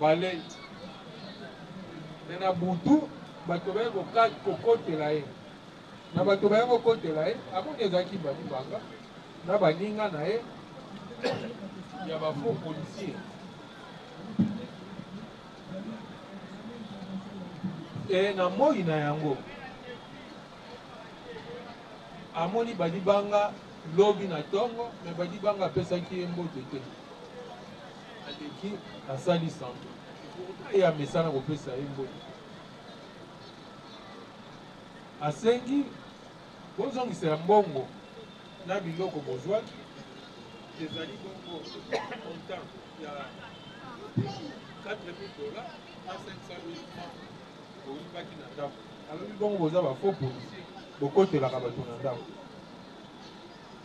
Ba leki. Mais na butu bato baye kokata kokotela ye na bato baye kokotela ye amoni ezalaki ba libanga na baninga na ye ya ba faux policiers et na moyi na yango amoni ba libanga lobi na tongo mais ba libanga apesaki ye mbote te. Aleki asali semblant pourtant ye amesana kopesa ye mbongo. Asengi bozongisa ya mbongo na biloko bozwaki ezali bongo montant ya 4000 dollars na 500000 francs boyibaki na ndako. Alobi bongo boza ba faux policiers bokotelaka batu na ndako.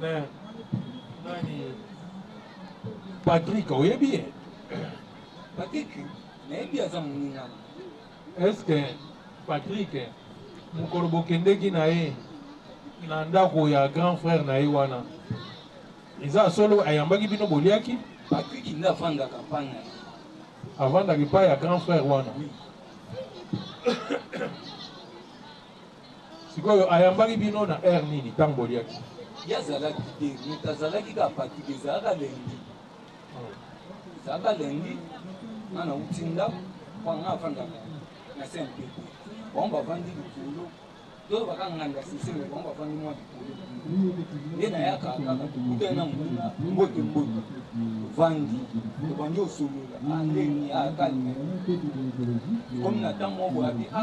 Mais, nani Patrick, oyebi ye? Patrick, nayebi aza moninga. Est-ce que Patrick mokolo bokendeki na ye na ndako ya grand frère na ye wana eza solo ayambaki bino boliaki? Patrick nde afandaka epai na ye. Avandaka epai ya grand frère wana. Oui. Sikoyo ayambaki bino na heure nini tango boliaki? Ye azalaki te mutu azalaki kaka fatigue ezalaka lundi ezalaka lundi nga nauti ndako mpo nga afandaka na saint pepe bango bavandi likolo to baka nganda siseme bango bavandi mwa likolo nde nayaka kaka tokutani na muna mbote mbote ovandi obandi osolola andeni akalme ekomi na ntango moko boyabi a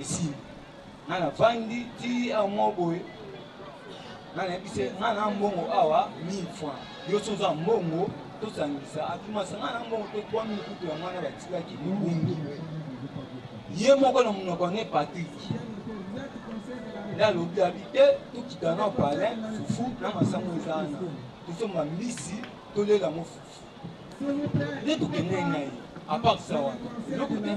Esili. Nga na vandi ti awa moko boye. Nga na yebi se nga na mbongo awa 1000 francs. Yo so oza mbongo to sangisa atuma se nga na mbongo pe 3000 kutu ya mwana ba tikaki libundu. Ye moko na munoko ne Patrick. Nda alobi abi te to kita na palais fufu na masango eza na. To somba mbisi to lela mo fufu. Nde to kende na ye. À part ça wana. Eloko te.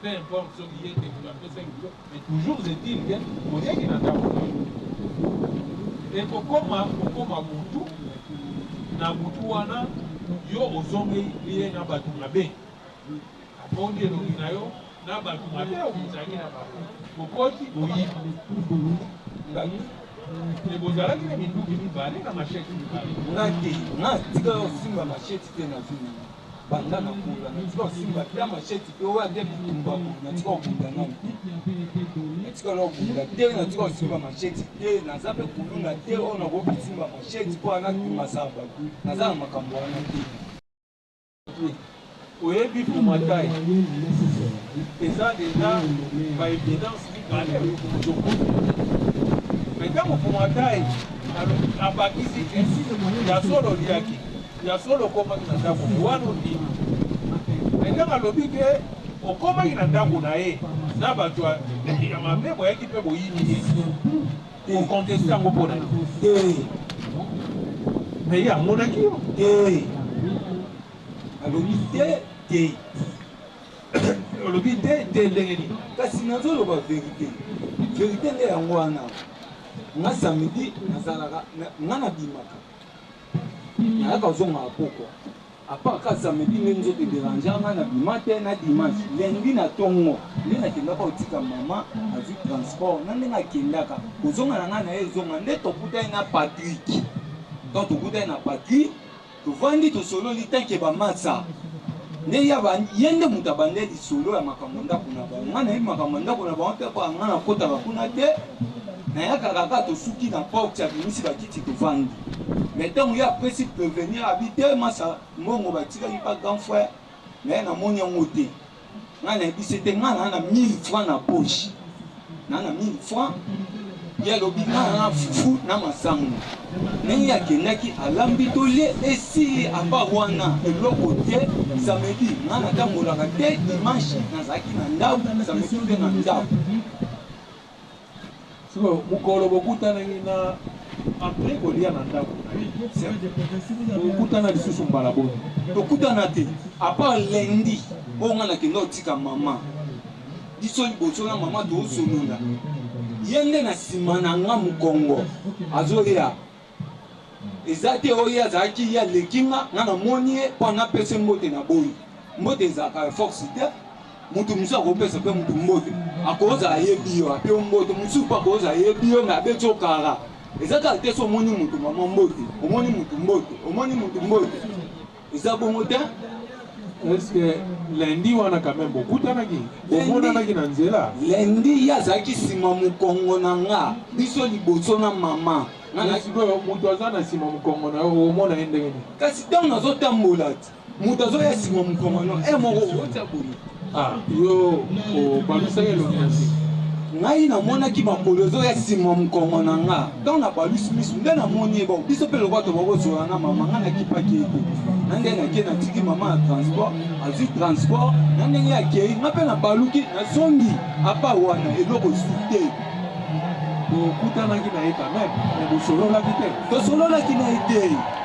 Peu importe soki ye te mutu apesaki yo mais toujours est il que oyaki na ndaku na yo. Ekokoma okoma mutu na butu wana yo ozongeli ye na batu mabe abondi elongi na yo na batu mabe oyo bozalaki na bango bokoti boyibi mais bozalaki na minduki mibale na machette mibale. Nga te nga tika yo osimba machette te na vie na nga. Banda na kula mingi tika osimba ata machette te oyo ata bitumba boye na tika obunda nanu te na tika na obunda te na tika osimba machette te naza mpe kuluna te oyo nakoki kosimba machette mpo ana kimasa bato naza na makambo wana te oyebi pomatai eza deja baevidence mibale ozokuta me ntango pomatai abakisi ya solo liaki Ya solo okomaki na ndako na ye wana ondimi mais ndenge alobi ke okomaki na ndako na ye na bato ya mabe boyaki mpe boyini ye okonteste yango mpo na ye mais ye amonaki yo te alobi te te olobi te te ndenge nini kasi nazoloba verite verite nde yango wana nga samedi nazalaka nga nabimaka nayaka zonga na pokwa apart ka samedi nde nzoto ederangea nga na bima te na dimanche lundi na tongo nde nakendaka kotika mama azwi transport na ndenge akendaka kozonga na ngai na ye ezonga nde tokutani na patrik donc tokutani na patrik tovandi tosololi tanke bamasa nde ye nde moto abandeli lisolo ya makambo ndako na bango ngai nayebi makambo ya ndako na bango te mpo ya ngai nakotaka kuna te Nayaka kaka tosuki na porte abimisi ba kiti tovandi mais tango ye apesi prevenir abi te masa mbongo batikaki pa grand frère naye namoni yango te ngai nayebise te ngai na na 1000 francs na poche na na 1000 francs ye alobi ngai na fufu na masango ndenge akendaki alambi tolie esili apa wana eloko te samedi ngai natambolaka te dimanche nazalaki na ndako samedi te na ndako Sikoyo mokolo bokutanaki na apres kolia na ndako na ye bokutana lisusu mbala boni? Tokutana te apart lundi oyo nga nakenda otika mama biso liboso na mama toosolonda ye nde na nsima na nga mokongo azoya Eza te oyo ye azalaki ye aleki nga nga na moni ye po nga pesa ye mbote na boyi mbote ezalaka ya force te mutu mosusu akopesa pe mutu mbote akoza ayebi yo ape yo mbote mosusu pe akoza ayebi yo me abeti yo kara eza kaka te so omoni mutu mama mbote omoni mutu mbote omoni mutu mbote Eza bongo te est ce que lundi wana quand même bokutanaki bomonanaki na nzela lundi ye azalaki nsima mokongo na nga biso liboso na mama sikoyo moto aza na nsima mokongo na yo omona ye ndenge nini kasi ntango nazotambola moto azoya nsima mokongo na yo e eh, moko otia boye Ah, yo obandisaki elongi na nsima ngai namonaki makolo ezoya nsima mokongo na nga ntango nabalusi miso nde namoni ye bon biso mpe lokola tokoki kozwala na mama ngai nakipaki ye te na ndenge nakie natiki mama na transport azwi transport na ndenge akei ngai mpe nabaluki nazongi apa wana eloko esu te bokutanaki na ye kameme me bosololaki te tosololaki na ye te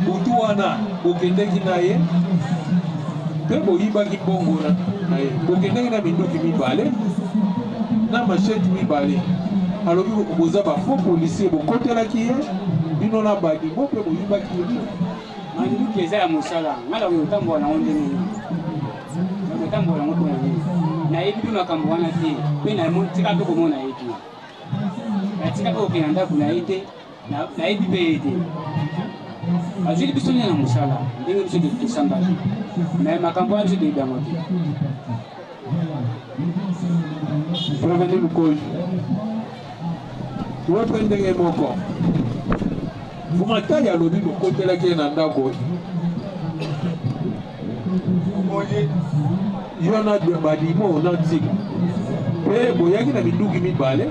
Butu wana bokendeki na ye mpe boyibaki mbongo na ye, bokendeki na minduki mibale na masheti mibale. Alobi boza ba faux policier, bokotelaki ye bino na badimo mpe boyibaki ye mbongo. Manduki eza ya mosala, ngai nakoki kotambola nango ndenge nini? Nakotambola yango mpona nini? Nayebi mpe makambo wana te, mpe natika mpe komona ye te, natika mpe kokenda ndako na ye te. nayebi mpe ye te azwili biso nini na mosala ndenge biso tosambaki me makambo wana biso toyebi yango te proveni mokoli yo mpe ndenge moko vumatali alobi bokotelaki ye na ndako omoni yo na badimo na ntima mpe boyaki na minduki mibale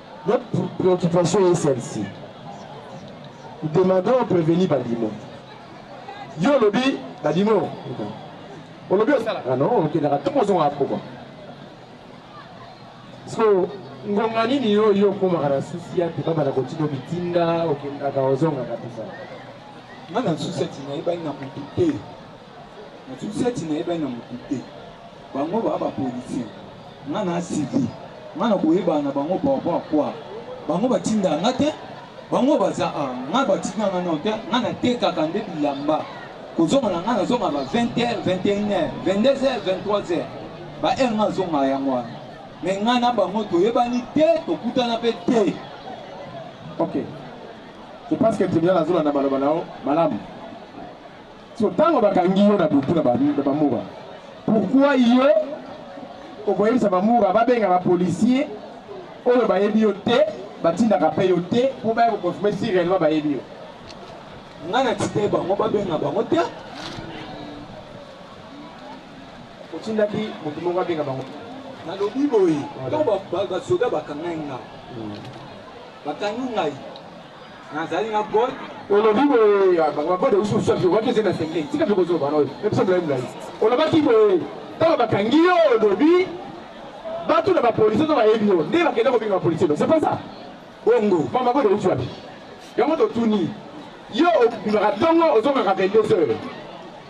Notre préoccupation est celle-ci. Nous demandons prévenir Badimo. Yo lobi Badimo. Olobi osala. Ah non, ok, d'accord. Tout le monde a pourquoi. So, ngonga nini yo yo okomaka na susi ya te babanda kotika bitinda okendaka ozongaka mpenza nga na susi ya tina yebani na motu te Na susi ati nayebani na mutu te bango ba ba policier nga na civil nga na koyebana na bango par rapport à quoi bango batinda nga te bango baza a nga batinda nga non te nga natekaka nde bilamba kozonga na nga nazonga ba 20 heures 21 heures 22 heures 23 heures ba heure nga azonga yango wana me nga na bango toyebani te tokutana mpe te ok je pense que tribunal azolanda maloba na yo malamu so ntango bakangi yo na butu na bamura pourkui yo okoyebisa bamura babenga bapolisier oyo bayebi yo te batindaka mpe yo te mpo baya koconfirme si réellement bayebi yo ngai na tite bango babenga bango te otindaki moto moko abenga bango nalobi boye ntango basoda bakangai nga hmm. bakangi ngai nazali na gol olobi boye ah, bango baboda biso mosusu afiokaki eze na senge tika mpe kozwa bana oyo ebiso molai molai olobaki boye ntango bakangi yo olobi bato na bapolisi to bayebi yo nde bakenda kobinga bapolisi elo c'est pas ça bongo mama boda biso wapi yango totuni yo obimaka ntongo ozongaka 22 heures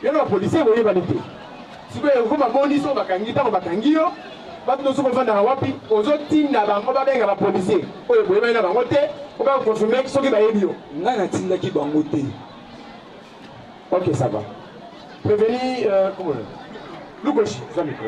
Yano ba policier boyeba nite. Siko ya kuma boni so bakangi tango bakangi yo. Batu nosuko vanda wapi ozo tinda bango babenga ba policier. Oyo boyeba ina bango te. Oka confirmer soki bayebi yo. Nga na tindaki bango te. Ok ça va. Prévenir euh, comment Lukoshi, ça micro.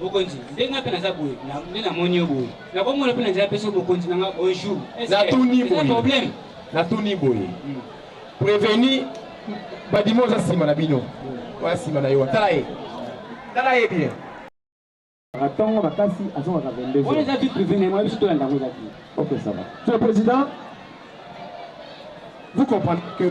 bokonzi ndenge nga mpe naza boye nde namoni yo boye nakomona mpe na nzela mpeso bokonzi na nga un jour natuni boye problème natuni boye hmm. préveni badimo oza nsima na bino hmm. oya nsima na yo tala ye tala ye bien atongo makasi azongaka 22 oyo eza tout privé na yango biso tolanda yango eza te ok ça va monsieur le président vous comprenez que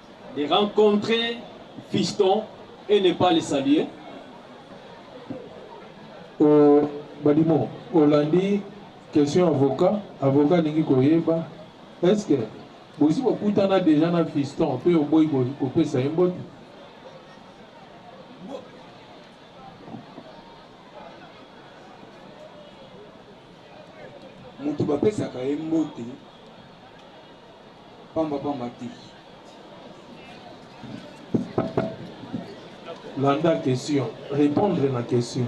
de rencontrer Fiston et ne pas le saluer. Oh, Badimo, Hollandi, question avocat, avocat alingi koyeba, est-ce que bosi bokutana déjà na Fiston mpe oboyi kopesa ye mbote? moto bapesaka ye mbote pambapamba te. Landa question, repondre na question.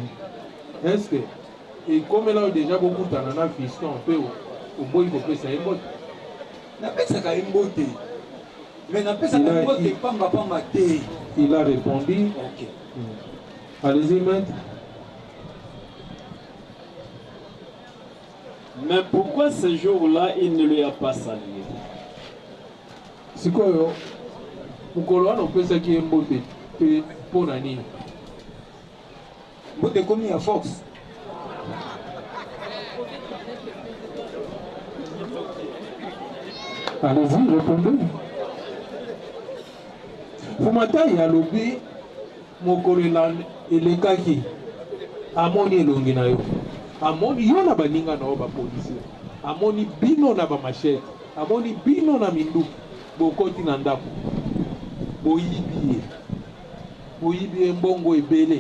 Est-ce que ekomela yo deja bokutana na fiston mpe oboyi kopesa ye mbote? Napesaka ye mbote, mais napesaka ye mbote pambapamba te. Il a répondu. Ok. Allez-y, maître. Mais pourquoi ce jour là il ne lui a pas saluer? Sikoyo mokolo wana opesaki ye mbote te mpo na nini? Mbote ekomi ya force. Allez-y, répondez. Fumatai alobi Mokolo elekaki, amoni elongi na yo, amoni yo na baninga na yo ba policiers, amoni bino na ba machettes, amoni bino na minduki, bokoti na ndako, boyibi ye, boyibi ye mbongo ebele,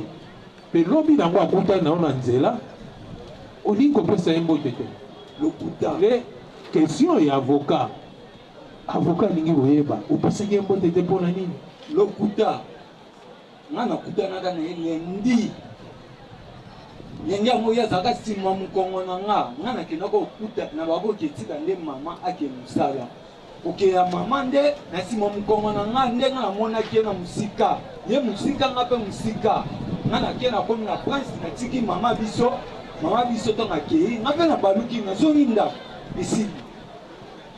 mpe lobi na yango akutani na yo na nzela, olingi kopesa ye mbote te. Lokuta. Nde question ya avocat, avocat alingi koyeba opesaki ye mbote te mpo na nini? Lokuta. nga nakutanaka na ye lundi lenge yango ye azalaka nsima mokongo na nga nga nakendaka okuta na baboki etika nde mama ake mosala oke ya mama nde na nsima mokongo na nga nde nga namonaki ye na mosika ye mosika nga mpe mosika nga nake nakomi na prince natiki mama biso mama biso ntango akei nga mpe nabaluki nazongi ndako esili